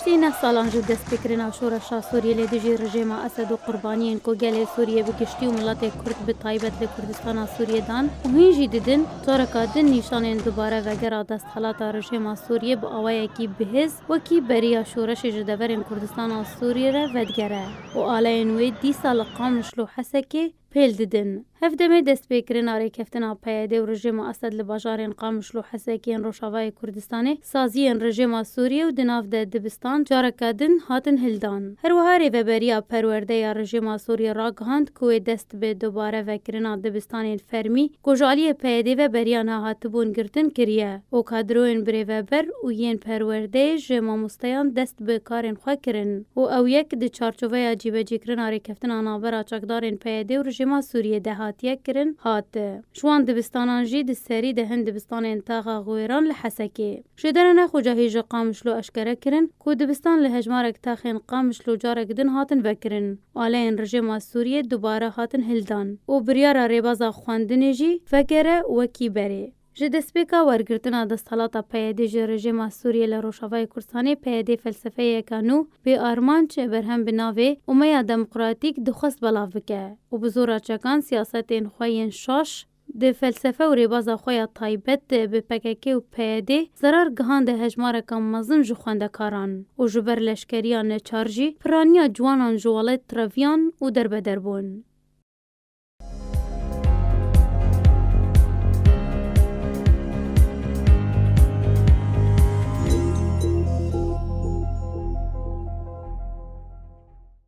Piştî neh salan ji destpêkirina şoreşa Sûriyê lê dijî rijêma Esed û qurbaniyên ku gelê Sûriyê bi giştî û miletê Kurd bi taybet li Kurdistana Sûriyê dan û hîn jî didin, toreka din nîşanên dubare vegera desthelata rijêma Sûriyê bi awayekî bihêz wekî beriya şoreşê ji deverên Kurdistana Sûriyê re vedigere û aleyên wê dîsa li Qamişlo Hesekê pêl didin. Hev demê destpêkirina rêkeftina PYD û rejêma Esed li bajarên Qamişlo û Hesekê yên rojavayê Kurdistanê, saziyên rejêma Sûriyê û di nav de dibistan careke din hatin hildan. Her wiha Rêveberiya Perwerde ya rejêma Sûriyê ragihand ku wê dest bi dubare vekirina dibistanên fermî, Ku ji aliyê PYDê ve beriya nehatibûn girtin kiriye û kadroyên birêveber û yên perwerdeyê ji mamosteyan dest bi karên xwe kirin û ew yek di çarçoveya cîbecîkirina rêkeftina navbera çekdarên PYDê û rijîma Sûriyê de hatiye kirin hat ji wan dibistanan jî di serî de hin dibistanên Taxa Xwêran li Hesekê Şêderene Xocahî ji Qamişlo eşkere kirin ku dibistan li hejmarek texên Qamişlo carek din hatin vekirin. Aleyên rijêma Sûriyê dubare hatin hildan û biryara rêbeza xwendinê jî vegere wekî berê. Ji destpêka wergirtina desthelata PYD ji rejêma Sûriyê li Rojavayê Kurdistanê, PYD felsefeyeke nû, bê armanc, berhem bi navê Umeya Demokratîk dixwest belav bike û bi zora çekan siyasetên xwe yên şaş, Di felsefe û rêbaza xwe ya taybet de bi pkk û PYDê zerar gihande hejmareka mezin ji xwendekaran û ji ber leşkeriya neçar jî piraniya ciwanan ji welêt treviyan û derbeder bûn.